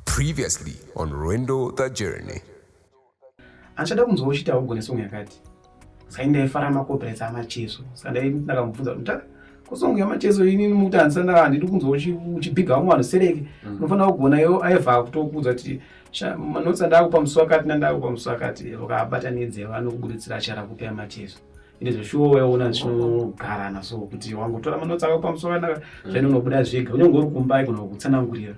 Previously on Rwendo the Journey. Achada kunzwa uchiti haugone song yakati. Saka ndaifara macopyrights amacheso. Saka ndakamubvunza kuti ah, kusong yamacheso ini mukuti handisana handidi kunzwa uchibhiga vamwe vanhu sereke. Mm. Unofanira kugona yo aiva kutokuudza kuti manotsa ndakupa musi wakati nandakupa musi wakati vakabatanidze vanokuburitsira achara kupa yamacheso. Ine zveshuwo waiona zvinogarana so kuti wangotora manotsa akakupa musi wakanaka mm. zvainonobuda zvega. Unenge uri kumba aigona kukutsanangurira.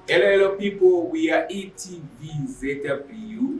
Hello, hello people, we are ETV ZW.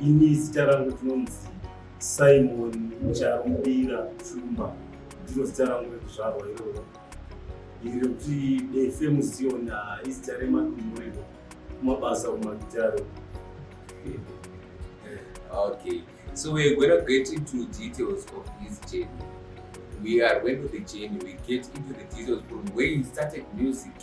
Ini zita rangu tinonzi Simon Charumbira Shumba, ndiro zita rangu rekuzvarwa iroro. Iri rekuti Defe Muzion izita remadumuriro kumabasa kumagitare. Okay, so we're going to get into details of his journey. We are going to the journey, we get into the details from where he started music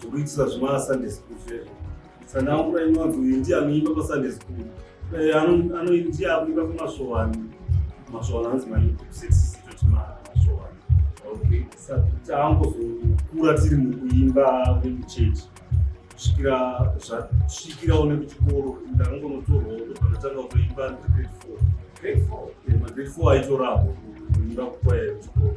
zvekuitisa zvema Sunday school zvezvo sandaangura inonzi uyu ndiye anoimba pasunday school eh, anoindiye akuimba kumasvowani masvowani anzi maikusetisitotimasvowani taangozokura tiri mukuimba wemuchechi kusvikira zvasvikira one kuchikoro ndakangonotorwa pandatanga kuimba ndigrade four grade four eh, aitoravo kuimba kukwaya yekuchikoro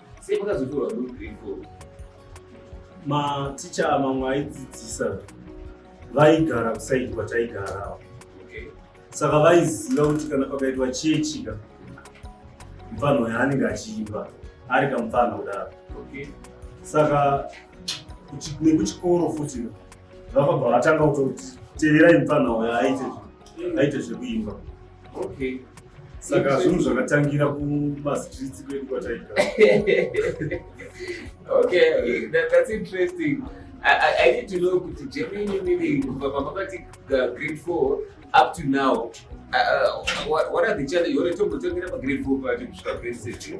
Sei makazotorwa kugrade four? Maticha mamwe aidzidzisa vaigara kusaidi kwataigara okay. Saka vaiziva kuti kana pakaitwa chechika mupfanha uyo anenge achiimba ari kamupfanha kudaro okay. Saka nekuchikoro futi vakabva vatanga kutoti teverai mupfanha uyo aite zvekuimba Okay. Saka zvinhu zvakatangira kumastreets kwedu kwataigara. Okay, that, that's interesting. I, I, I need to know kuti Germany meaning kubva pamakati uh, grade 4 up to now. Uh, uh, what, what are the challenges? Ore tombotangira pa grade 4 pacho kusvika grade 6.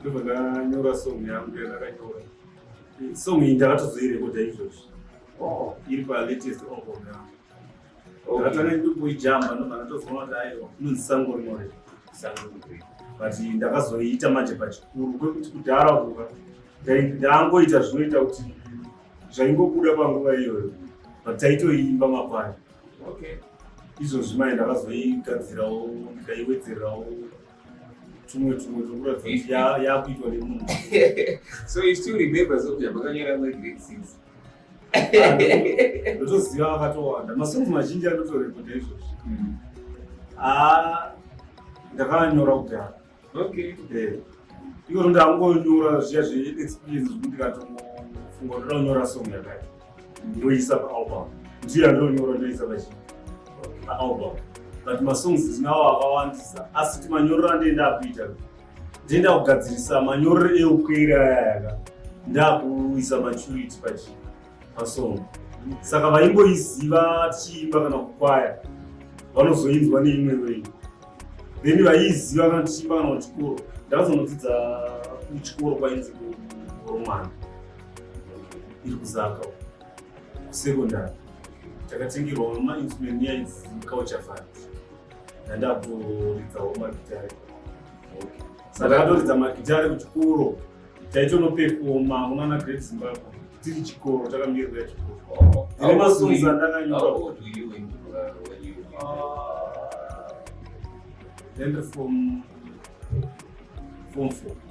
ndobva ndanyora song yangu yandakanyora song iyi ndakatozoirekoda izvozvi oh. iri palatest album yangu ndakatanga ndokuijamba ndobva ndatozoona kuti aiwa inonzi sango rinore sango but ndakazoiita manje pachikuru kwekuti kudhara kuka ndangoita zvinoita kuti zvaingobuda panguva iyoyo but taitoiimba makwai izvozvi mai ndakazoigadzirawo ndikaiwedzerawo tumwe tumwe tokuratidza yakuitwa nemunhu so you still remember zobya makanyora ma grade six ndotoziva vakatowanda masongs mazhinji anotorekota izvozvi hmm. ah, ndakanyora kudhara okay eh. iko ndangonyora zviya zveexperience zvekuti ndikatofunga ndoda kunyora song yakaita ndoisa paalbum ndiyo yandinonyora ndoisa pachi paalbum but masongs ndinawo akawandisa asi kuti manyorero andienda akuita ndienda kugadzirisa manyorero eukweiri ayayaka ndakuisa maturity pachi pasong saka vaimboiziva tichiimba kana kukwaya vanozoinzwa neimwe wei then vaiiziva kana tichiimba kana kuchikoro ndakazonodzidza kuchikoro kwainzi kuromwana iri kuzaka kusekondari takatengerwa mainstrument nyaya idzi culture fund ndandakutoridzawo magitare saka ndakatoridza magitare kuchikoro taitonopefoma kunana great zimbabwe tiri chikoro takamirira chikoro oh, tine masunza ndakanyora then from form four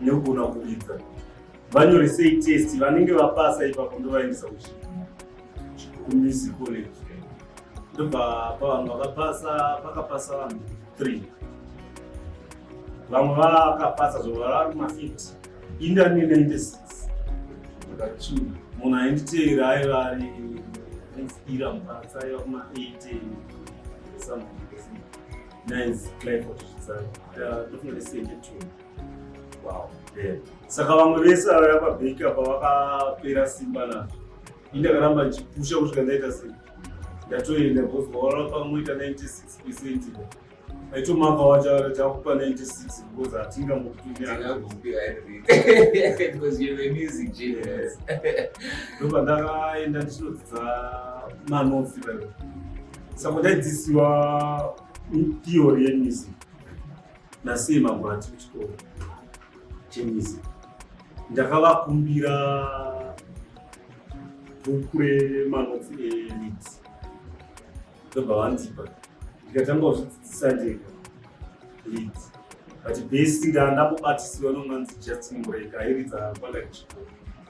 nekugona kuridza vanyore sei test vanenge vapasa ipapo ndovaendesa kuchikumizi college ndobva pavanhu vakapasa vakapasa vanhu three vamwe vakapasa zvovari mafit indani 96 munhu ainditeera aiva ari ira mupasa aiva kuma 8 something nice cliford zvidzani saka vamwe vese vavaya pabheki apa vakapera simba nazvo ini ndakaramba ndichipusha kusvika ndaita sei ndatoenda bcause vaona pamoita 96 percent aitomaka wacho takupa 96 because hatinga ndoba ndakaenda ndichinodzidza manotsi saka ndaidzisiwa Theory yemusic nasiye magwati kuchikoro chemusic ndakavakumbira bhuku remanotsi emit ndobva vandipa ndikatanga kuzvidzidzisa ndega lead but basi ndandakubatisiwa nomwanzi justin mureka airidza kwandakachikoro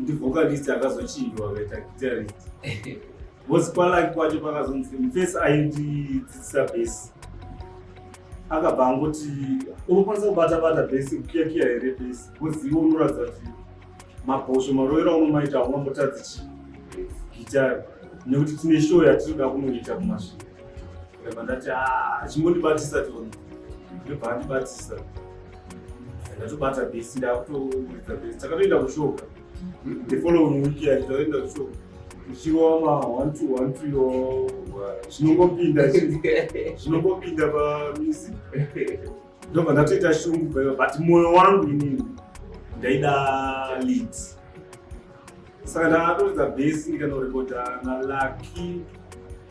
ndi vocalist akazochinjwa akaita guitarist bcause kwalaki kwacho pakazonzi mufesi aindidzidzisa bhesi akabva angoti unokwanisa kubata bata bhesi kukiyakiya here bhesi bcause iwe unoratidza kuti mabhosho maroera unomaita aungambotadzichi gitari nekuti tine show yatiri kuda kunoita kumasvira ndabva ndati ah, achingondibatisa toni ndobva andibatisa ndatobata bhesi ndakutoridza bhesi takatoenda kushoka the following week yacho takatoenda kushoka ichirowa ma one two one two yo zvinongopinda zvinongopinda pamizi ndobva ndatoita shungu paiva but mwoyo wangu inini ndaida lead saka ndakatoridza bhesi ndikanorekodha nalaki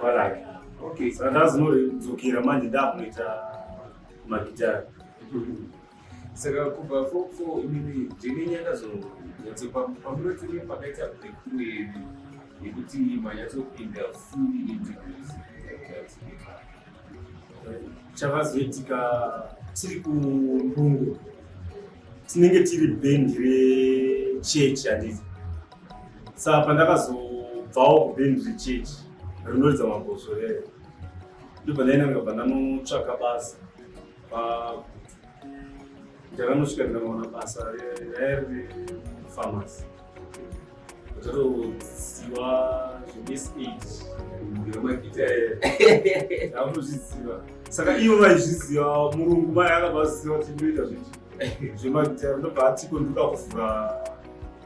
Baraka. Okay, so that's not kudzokera manje ndakuita magitara. Saka kubva fo fo imimi ndine nyanga zo nyatso pamunoti ne pakaita break ne yekuti manyatso pinda fully into music. Chavazoitika tiri kumbungo tinenge tiri bhendi rechechi handiti Saka pandakazobvawo kubindu rechechi rinoridza mabhozvo rere ndibva ndainanga bva ndanotsvaka basa ndakanosvika ndikanoona basa raiya riri famasi ndatoziva zvemisi eight ndakutozviziva saka ivo vaizviziva murungu mai akabva aziva kuti ndoita zvinhu zvemagitare ndobva atiko ndoda kuvhura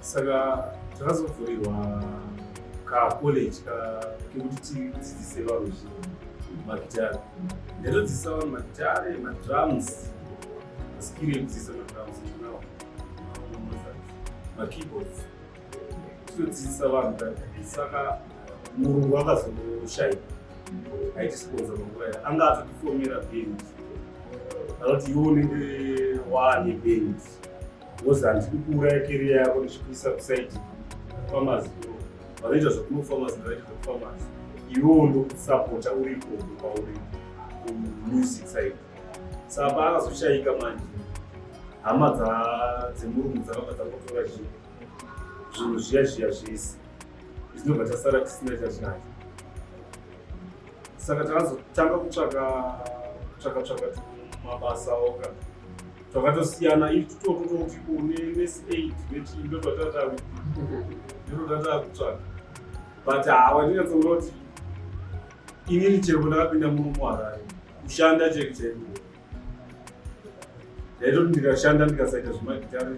saka takazovhurirwa kacollege kekuti tidzidzise vanhu zvinhu magitare ndatodzidzisa vanhu magitare madrums maskiri ekudzidzisa madrums now makeyboards tinodzidzisa vanhu saka murungu akazoshaika aitisikonza manguva ya anga atotifomera bend anoti iwo unenge waane bend wozanzi kukuuraya keriya yako ndichikuisa kusaidi famasi vanoita zvekunofamasi vanoita zvekufamasi iwewo ndokusapota uri koko kwauri kumusic saidi sapa akazoshayika manje hama dzemurungu dzakabva dzakotora zvinhu zvinhu zviya zviya zvese zvinobva tasara tisina chazvinacho saka takazotanga kutsvaka tsvaka tsvaka mabasa oka Twakatosiyana if tutokuno kuti une next aid nechii ndo twatata kuti ndiro tata kutsvaka but hawa ndinyatsonga kuti inini chero ndakapinda muno muharare kushanda cheke chaiku ndaitoti ndikashanda ndikasaita zvemagitare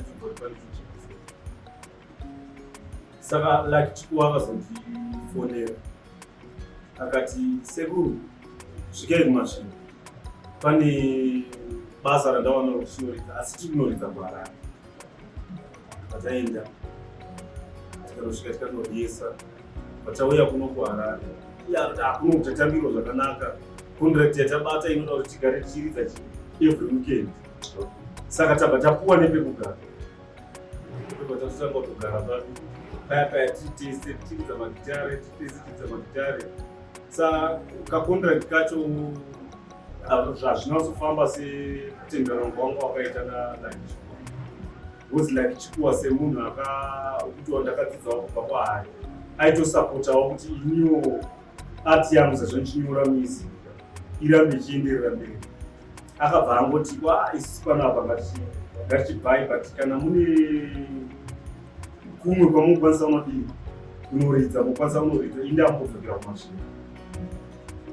saka like chikuwa akazondifonera akati sekuru svikai kumasvingo pane basa randawana rokushinoridza asi tiri kunoridza kuharare pataenda tikanosvika tikanoryesa patauya kuno kuharare akuno kutatambirwa zvakanaka contract yatabata inoda kuti tigare tichiridza every weekend saka tabva tapuwa nepekugara sa kacontract kacho zvazvinazofamba setendererwa wanga wakaita nalaicho was like chikuwa semunhu akutiwa ndakadzidzawo kubva kwaari aitosapotawo kuti iniwo art yangu sezvo ndichinyora music irambe ichienderera mberi akabva angoti wa isi pano apa ngati ngatichibhai but kana mune kumwe kwamukwanisa unodii unoridza mukwanisa unoridza inde ambodzokera kumasvina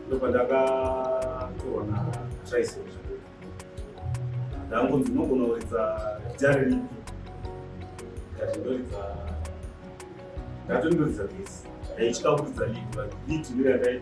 ndobva ndakatoona chaise ndangonzi unogona kuridza jari ripi ndati ndoridza ndatondoridza this ndaitya kuridza lidi but lidi ndoyandai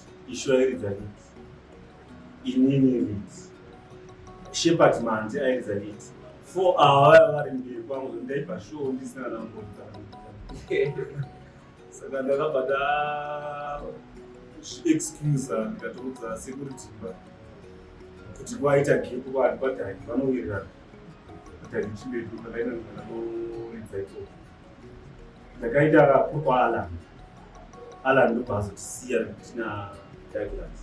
Ishu airidza liti. Inini liti. Shepherd Manzi airidza liti. Four awa vaya vari mberi kwangu ndaipa show ndisina nambota. Saka ndakabata excuse ndikatoudza security pa kuti kwaita gap kwati padhaki vanowirirana. Padhaki chimbetu pakaenda ndikatoridza ikoko. ndakaita kokwaala alan ndobva azotisiya tina douglas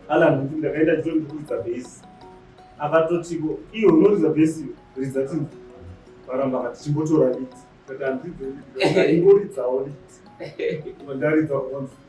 alan ndakaita chito ndikuridza bhesi akatotiko iyo unoridza bhesi ridza ti varamba kati chimbotora liti kati handidzo ingoridzawo liti ndaridza kunzi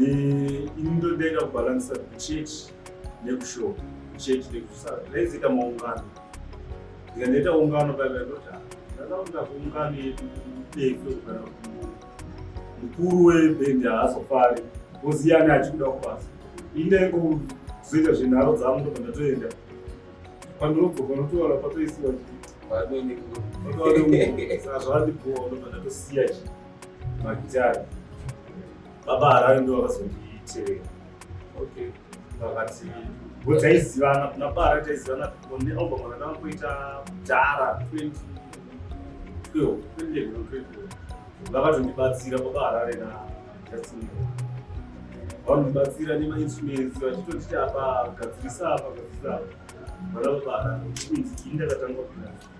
ini ndodaida kubalanisa church nekushop church nekusara ndaizoita maungano ndikanoita ungano paivaitota ndakaunda kuungano yedu defe kana kuti mukuru webhendi haazofari oziyani achikuda kubasa ine kuzoita zvenharo dzangu ndobva ndatoenda pandinobva panotoona patoisiwa zvandibhoa ndobva ndatosiya chi magitari baba harare ndivo vakazondiitire okay vakati ngo taizivana kuna bara taizivana one album rakatanga kuita dhara 2012 2011 vakatondibatsira baba harare na justin vanondibatsira nemainstruments vachitonditi apa gadzirisa apa gadzirisa apa vana baba harare inzi ini ndakatanga kuita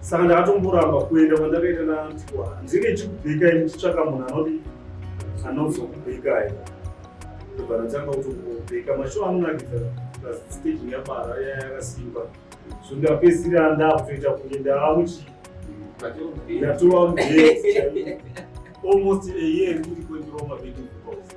saka ndakatomboramba kuenda kwandakaita nantiwa ndinenge chikubekai muchitsvaka munhu anodi anozokubekai ndobva ndatanga kutobeka mashow anonakidza stage yapara yaya yakasimba so ndapedzisira ndakutoita kunge ndaamuchi ndatova almost a year ndiri kwendiroma vedu because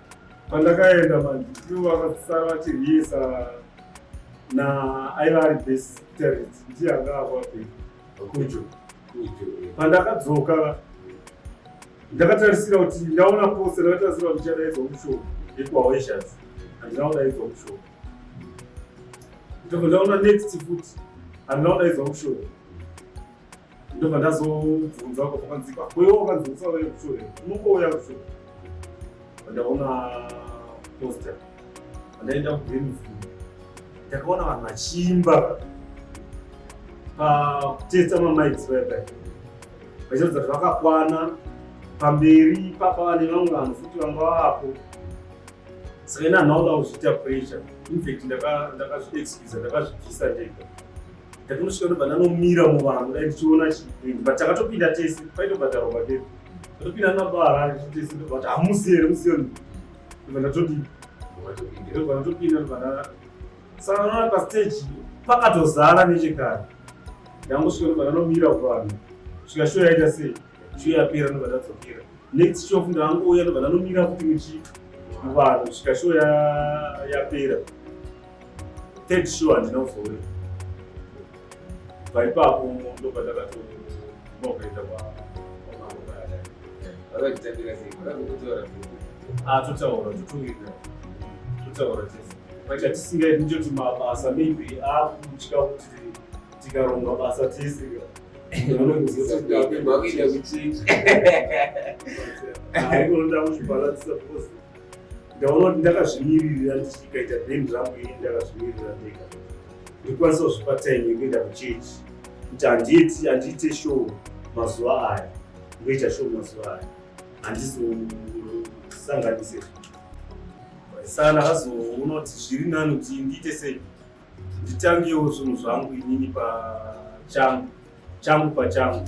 Pandakaenda manje ivo vakasara vachiriyesa na aiva ari base talent ndiye anga avape kujo pandakadzoka ndakatarisira kuti ndaona post ndakatarisira kuti ndichadaidzwa mushoo yekuhaweshas handina kudaidzwa mushoo ndobva ndaona next futi handina kudaidzwa mushoo ndobva ndazobvunza uko kwakanzi kwakoiwo wakanzi usauya kushure unongouya kushure ndaona posta ndaenda kugreenview ndakaona vanhu vachiimba pakutesa mamics vaipa vachiratidza kuti vakakwana pamberi papa vane vamwe vanhu futi vanga vapo saka ina nhauda kuzviita pressure infact ndakazviexcusa ndakazvibvisa ndega ndakanosvika kuti vana nomira muvanhu dai ndichiona chii but takatopinda tese kwaitobhadharwa matepi tatopinda nabaharare tese ndobati hamusi here musiyoni iva ndatodii ndobva ndatopinda ndobva nda saka naona pastage pakatozara nechekare ndangosvika ndobva ndanomira kuvanhu svika shuwa yaita sei shuwa yapera ndobva ndadzokera next shof ndangouya ndobva ndanomira kuti muchi muvanhu svika shuwa yapera ya third show handina kuzouya paipapo ndo patakatonokaita totaura totungira totaura tese paita tisingaiti ndichoti mabasa maybe akutya kuti tikaronga basa tese anokuzotoda kuchinja anoda kuzvibalanisa ndaona kuti ndakazvimiririra ndichikaita band rangu ini ndakazvimiririra ndega ndikwanisa kuzvipa time yekuenda kuchechi kuti handiiti handiite show mazuva aya ndoita show mazuva aya handizosanganise sana azoona kuti zviri nani kuti ndiite sei nditangewo zvinhu zvangu inini pachangu changu pachangu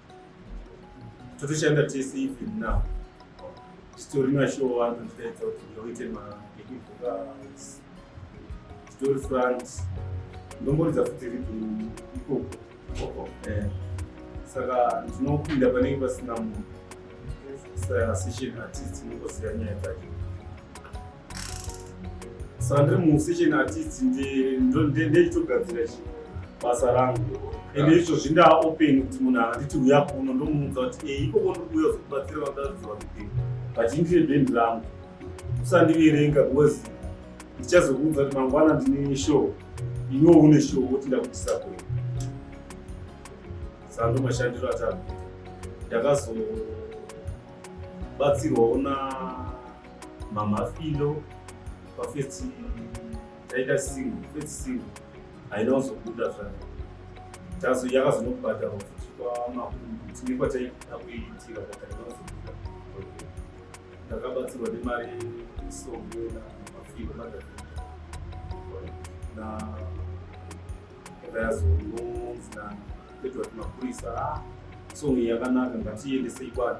totoshanda tese even now titori mashow vanhu titaedza kuti ndoite maekivokals titori front ndomboridza futi ribhu ikoko eh. saka ndinopinda panenge pasina munhu session artist inongosiya nyaya dzacho sandiri musession artist ndechitogadzira chi basa rangu ende izvo zvindaa open kuti munhu akanditi uya kuno ndomuudza kuti e ikoko ndikuuya zokubatsira vakaziva kuti vachindire bendi rangu usandiverenga because ndichazokuudza kuti mangwana ndine show iwe une show woti ndakutisa kwe sando mashandiro atatu ndakazobatsirwawo na mamafilo pafirst taita single first single haina kuzobuda zvayo tazo yakazonobhadharwa futi kwamakuru tine kwataida kuiitira kwataina kuzobuda ndakabatsirwa nemari songo na mafilo madafii na yakayazononzi na petwa kuti mapurisa ah, songo yakanaka ngatiendesei kwani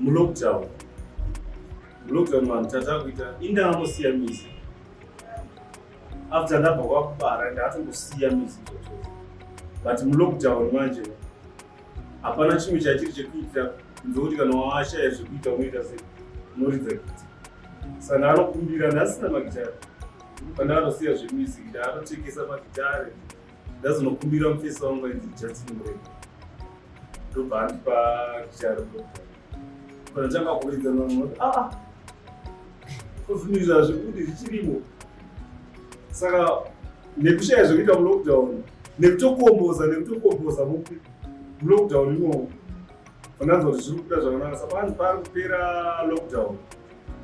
mulockdown mulockdown vanhu tatakuita indaamosiya mizi after ndabva kwakubara ndaatongosiya mizi izvozvo but mulockdown manje hapana chimwe chachiri chekuita ndokuti kana washaya zvekuita unoita se unoridza gita saka ndaanokumbira ndasina magitare pandakatosiya zvemizi ndaanotekesa magitare ndazonokubira mufesa wangu ainzi justin mureko ndobva andipa chiariko kana chakakuridza namuti aa ah, kuzvinizva zvekuti zvichirimo saka nekushaya zvekuita mulockdown nekutokomboza nekutokomboza mupi mulockdown imomo Pandanzwa kuti zviri kuita zvakanaka saka pari kupera lockdown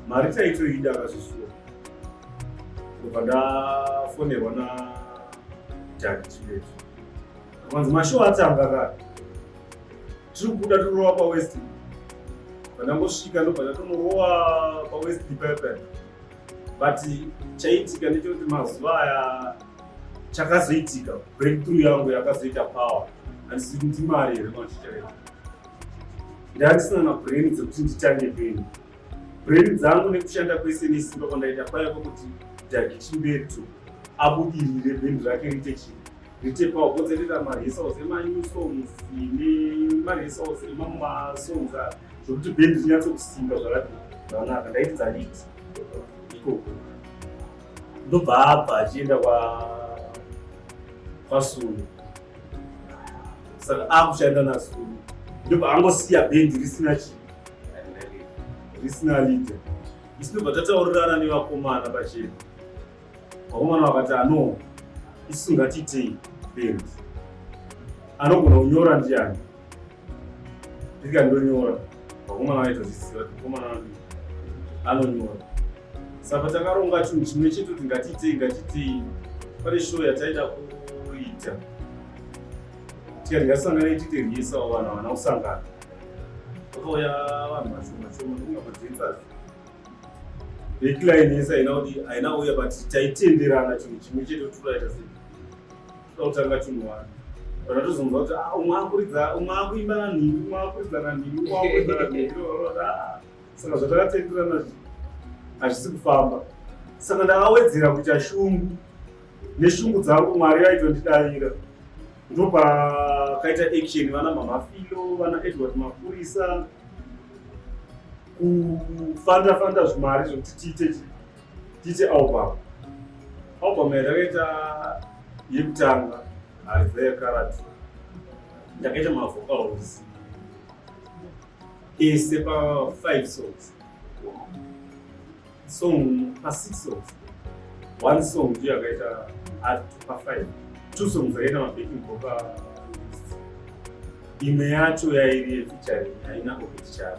mari taitoida akazvisuwa ndobva ndafonerwa na jaki chibeti akanzi mashow atanga kare tiri kubuda tirova pawest pandangosvika ndobva ndatonorowa pawest pipepani but chaitika ndechekuti mazuva aya chakazoitika breakthrough yangu yakazoita power handisi kuti ndimari here machitaita ndandisina na brain dzekuti nditange peni brain dzangu nekushanda kwese nesimba kwandaita kwaiva kwekuti dhagi chimberi to abudirire bhendi rake rite chii rite power kose rita maresource emanyu songs ine maresource emamwe masongs a zvokuti bhendi rinyatsokusimba zvakati zvanaka ndaiti dzanditi ikoko ndobva abva achienda kwa kwasulu saka akushanda nasulu ndobva angosiya bhendi risina chi risina lide isi ndobva tataurirana nevakomana pachena vakomana vakati ano isu ngatiitei bhendi anogona kunyora ndiani Ndika ndonyora vakomana vaitozviziva kuti mukomana wangu anonyora saka takaronga chinhu chimwe chete kuti ngatiitei ngatiitei pane show yataida kuita tikati ngatisangane tiite riesawo vanhu havana kusangana vakauya vanhu vashoma shoma ndokungapodzensazi backline yese haina kuti haina uya but taitenderana chinhu chimwe chete kuti turaita sei totanga chinhu wani kana tozonzwa kuti ah, umwe akuridza umwe akuimba nanhingi umwe akuridza nanhingi umwe akuridza nanhingi ah. saka zvatakatenderana hazvisi kufamba saka ndakawedzera kuita shungu neshungu dzangu mwari yaitondidavira ndopakaita action vana mamafilo vana edward mapurisa kufanda fanda zvimari zvekuti tiite Titi album. Album yakaita yekutanga ari there karati. Ndakaita ma vocals. Ese pa 5 songs. Song pa 6 songs. One song ndiyo yakaita ari pa 5. Two songs dzakaita ma backing vocal. Imwe yacho yairi featuring haina kupiti charo.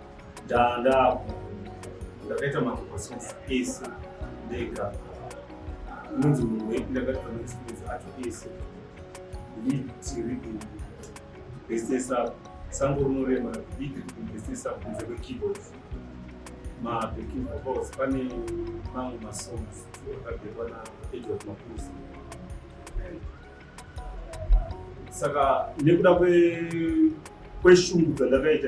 Ndaandapo ndakaita makososi ese ndega unonzi munhu wepi ndakaita makososi acho ese nditiri kuinvestesa sango rinorema nditiri kuinvestesa kunze kwekeyboards mabacking vocals pane mamwe masongs akabhekwa naedward mapusi saka nekuda kweshungu dzandakaita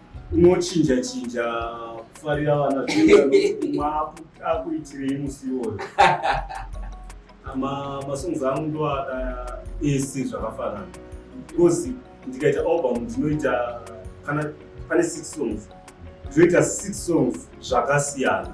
unochinja chinja kufarira vana akuitirei musi iwoyo masongs angu ndoada ese zvakafanana because ndikaita album ndinoita kana pane six songs ndinoita six songs zvakasiyana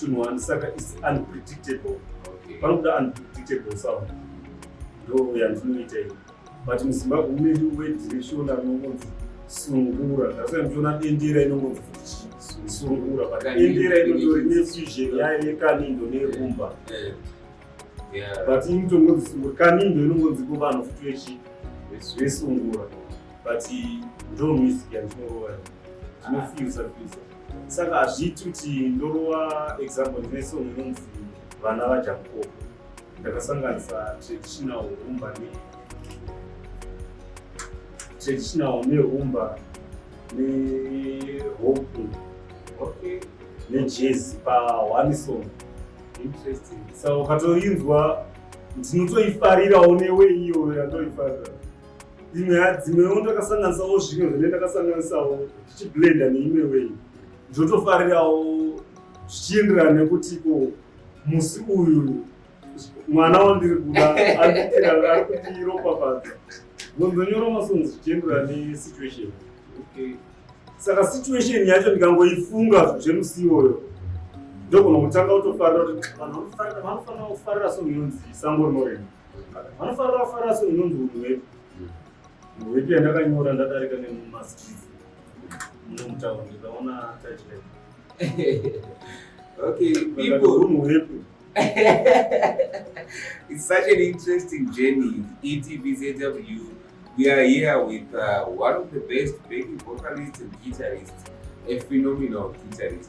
tunhu wani saka is unpredictable panobuda unpredictable sound ndo yandinoita iyi but muzimbabwe mune wediretion anongonzi sungura ndasaka ndichiona dendera inongonzi sungura but dendera inotori nefusion yayo yekanindo nerumba eh, eh. but iyi mitongonzi sungura kanindo inongonzi ko vanhu futi vechi vesungura but ndo music yandinoroa ndinofilsa filsa saka hazviiti kuti ndorova example ndine song inonzi vana vajakobo ndakasanganisa traditional rumba ne traditional nerumba nehopu okay. nejezi pa one song interesting saka ukatoinzwa ndinotoifarirawo newe iyoyo yandoifarira imwe yadzimwewo ndakasanganisawo zvimwe zvine ndakasanganisawo tichiblenda neimwe wei ndotofarirawo zvichienderana nekuti ko musi uyu mwana wandiri kuda ari kuti ropapadza ndonzonyora masongs zvichienderana nesituation saka situation yacho ndikangoifunga zvemusi iwoyo ndogona kutanga kutofarira kuti vanhu vanofanira kufarira songo inonzi sango rinorema Vanofarira fara so inonzi unhu hwepi. Unhu hwepi yandakanyora ndadarika nemumastreet. Muno mutauni ndikaona title. okay, people. Unhu hwepi. it's such an interesting journey. ETVZW, we are here with uh, one of the best baby vocalists and guitarists, a phenomenal guitarist.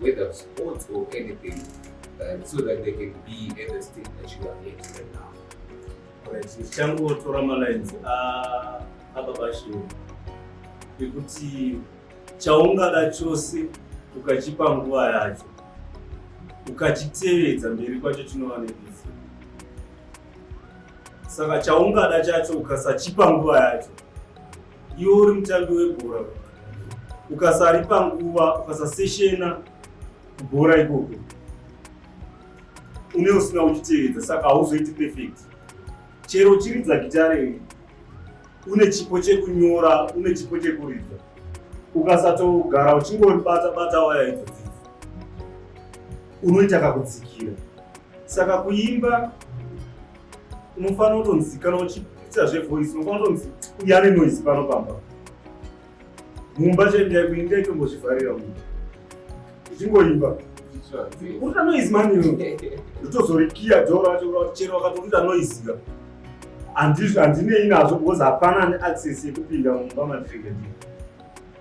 whether sports or anything uh, so that they can be at the state that you are at right now tichangotora malines ababashiro ekuti chaungada chose ukachipa nguva yacho ukachitevedza mberi kwacho chinova nebizi saka chaungada chacho ukasachipa nguva yacho Iwe uri mutambi webhora ukasaripa nguva ukasaseshena kubhora ikoko une usina uchitevedza saka hauzoiti perfect chero uchiridza gitare une chipo chekunyora une chipo chekuridza ukasatogara uchingoribata bata waya idzodzi unoita kakudzikira saka kuimba unofanira kutonzi kana uchiita zvevoice unofanira kutonzi uya ane noise pano pamba mumba chaendai kuinda itombozvivharira mumba uchingoimba urita noise mani ndotozorikiya dho racho chero wakatorita noise ka handinei nazvo because hapana ane access yekupinda mumba mandiregedii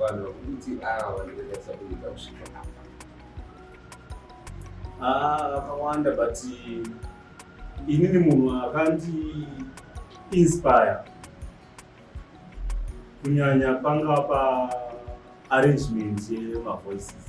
vanhu vakuti ava vanokwanisa kuita kusvika apa ah, vakawanda but inini munhu akandi inspire kunyanya panga pa arrangement yemavoices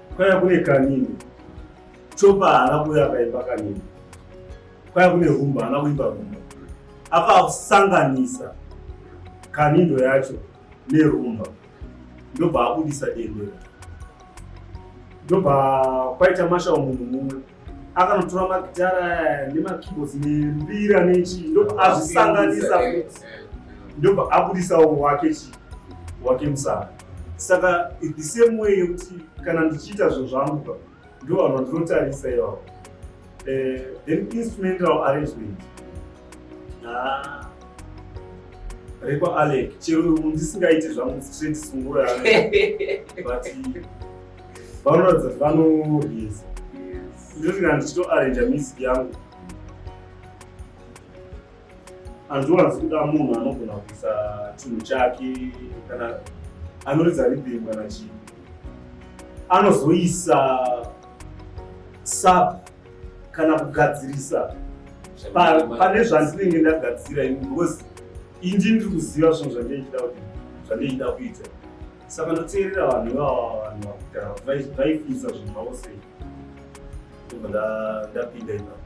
Kwaya kune kanini. Chopa haana kuuya akaimba kanini. Kwaya kune humba haana kuimba humba. Akasanganisa kanindo yacho nerumba ndobva abudisa dendera ndobva kwaita mashawo munhu mumwe akanotora magitara nemakeyboards nembira nechii ndobva azvisanganisa futi ndobva abudisawo wake chii wake musana saka in the same way yekuti kana ndichiita zvinhu zvangu ka ndo vanhu vandinotarisa ivavo eh, then instrumental arrangement ah, rekwa alec chero ndisingaiti zvangu straight sungura but vanoratidza kuti vanoreza ndoti kana ndichitoarranja music yangu handiwanzi kuda munhu anogona kuisa chinhu chake kana anoridza rhythm kana chii anozoisa sub kana kugadzirisa pane zvandinenge ndagadzira ini because indi ndiri kuziva zvinhu zvandichida kuti zvandichida kuita saka ndoteerera vanhu ivava vanhu vakudhara kuti vaifunisa zvinhu zvavo sei ndobva ndapinda ipapo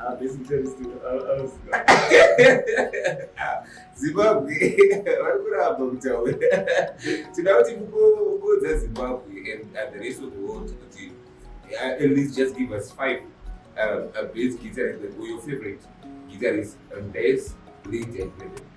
Ah, zimbabwe vari kuramba kutaura tinoda kuti mukokodza zimbabwe and the rest of the world kuti uh, at least just give us five uh, a bass guitarist like your favorite guitarist and bass lead and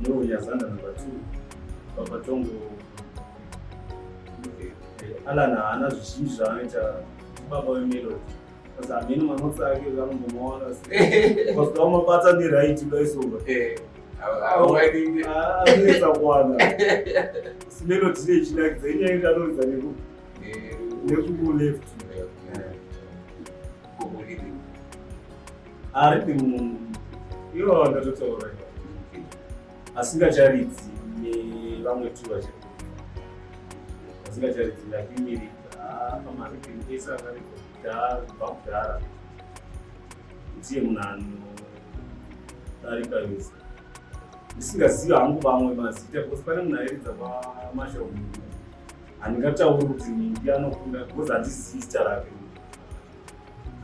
No, ya Zanda number two. Baba Tongo. Okay. Eh, Alan haana zvizhinji zvaanoita baba wemelody saka hameno manotsi ake vanombomaona pasika umabata neraiti udaisonga eh, anonetsa ah, kuwana melody ine ichinakidza inyaya iti anoridza neku eh, nekuleft Aripi munhu. Ivo vakatotaura asingacharidzi nevamwe tu vachiri asingacharidzi ndakimirika pamaripini ese akariko kudhara kubva kudhara ndiye munhu anodarika yose ndisingazivi hangu vamwe mazita because pane munhu airidza pamashop handingatauri kuti ndi anokunda because handizivi zita rake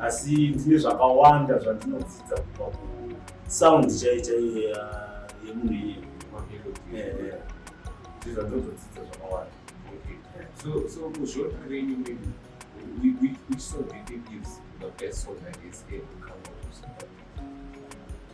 asi ndine zvakawanda zvandinodzidza kubva kusound chai chaiye yemunhu iye ndizvandozodzidza zvakawanda so so kuzvota renyu mimi which song do you think is the best song that is ever come out of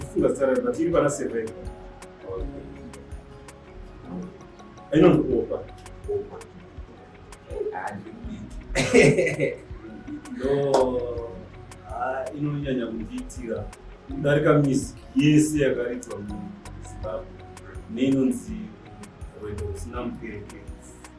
Tufunga sana na tiri bana seven. Aina ndokuopa. No. Ah, inonyanya kundiitira kudarika mizi yese yakaridzwa muZimbabwe neinonzi rwendo rusina muperekedzi.